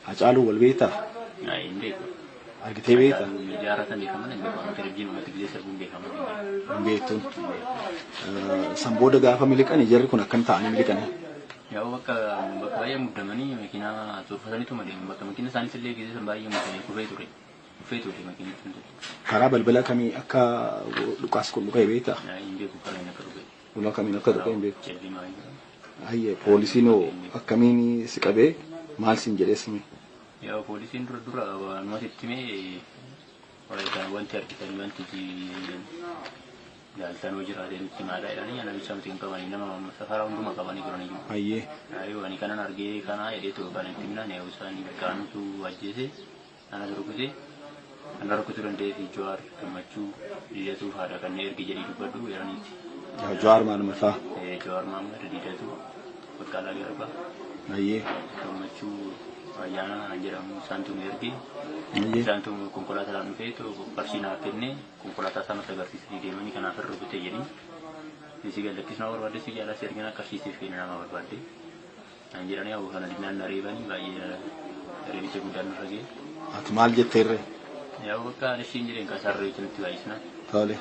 Hacaaluu wal beektaa? Ayi hin beeku. Argitee beekta? Hacaaluu miidiyaa irratti beekan malee hin beeku. Amma televizyiinii irratti gizee sirbuun beekamu hin beeku. Hin beektu. Eh, San booda gaafa miliqani jarri kun akkam ta'anii miliqani? Yaa'u bakka bakka baay'ee muddamanii makiinaa cuunfataniitu madeemu. Bakka makiina isaaniis illee gizee san baay'ee muddamee kufee ture. Kufee ture makiinichi hundatti. Karaa balbala kamii akka dhukaas kun dhuka'e beektaa? Ayi hin beeku karaa inni akka dhufe. Kun akkamiin akka tuqee hin beeku. Hayyee poolisiin hoo akkamiin si qabee maal siin jedhee sime? Yaa poolisiin dura dura waanumatti itti mee wanti argitan wanti jaaltan hojii irraa deemutti himaadha jedhanii ana bichaa miti hin qabanii nama safaraa hunduma qabanii turanii jiru. Hayyee. Ayyuu ani kanan argee kanaa jedhee too kan itti himnaan eewu isaanii qaamtu ajjeese Anatu rukute ana rukutu dandeefi Jawaar gammachuu didatuu faadha kanne ergi jedhii dubbadhu weeraniitti. Yaa Jawaar maaluma isaa. Ee Jawaar Maammed didatuu baqqaalaa garbaa. Ayyee. Gammachuu ayyaanaa kan jedhamu isaantu nu erge. Ayyee. Isaantu konkolaataadhaan dhufee too qarshii naaf kenne konkolaataa isaa natti agarsiisanii deemanii kanaaf irra rukute jedhin. Isii gallakkisuu na barbaadde si jaalaa si ergina qarshii siif kenna nama barbaadde. Naan jedhanii aboo kana dinnaan na reebanii baay'ee reebicha guddaan nurra ga'e. Ati maal jetteerre? Yaa bakka ani ishiin jedheen kan isaan reebicha nutti baay'isnaan. Tole.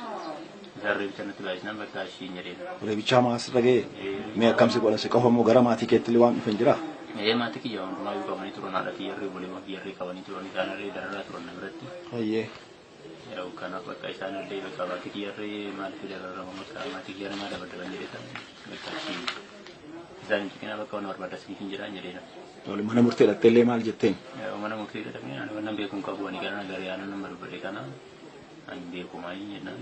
Isaan reebicha nutti baay'isnaan bakka ishiin jedheen. Reebichaa maa asirra ga'e? Mee akkam si godhan si qofa moo gara maatii keetti illee waan dhufan jiraa? Ee maatii kiyya hundumaa iyyuu qabanii turan haadha kiyya irree obboleewwan kiyya irree qabanii turan isaan irree dararaa turan na biratti. Hayyee. Yaa'u kanaaf bakka isaan illee bakka maatii kiyyarree maaliif dabarama bakka maatii kiyyarree maal dabarama jedhee kan bakka achi isaan hin cikinaa bakka waan barbaadda siif hin jedhaan jedhee nama. Wal mana murtee dhattee illee maal jetteen? Yaa'u mana murtee jedhamee ani waan nan beeku hin qabu ani gara na garee aanan nama dubbadhe kana ani hin beeku maayii jennaan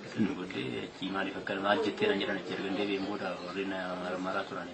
isin dubbadde achi maaliif akka maal jettee nan jedhan achi ergan deebi'een booda warri na maraa turani.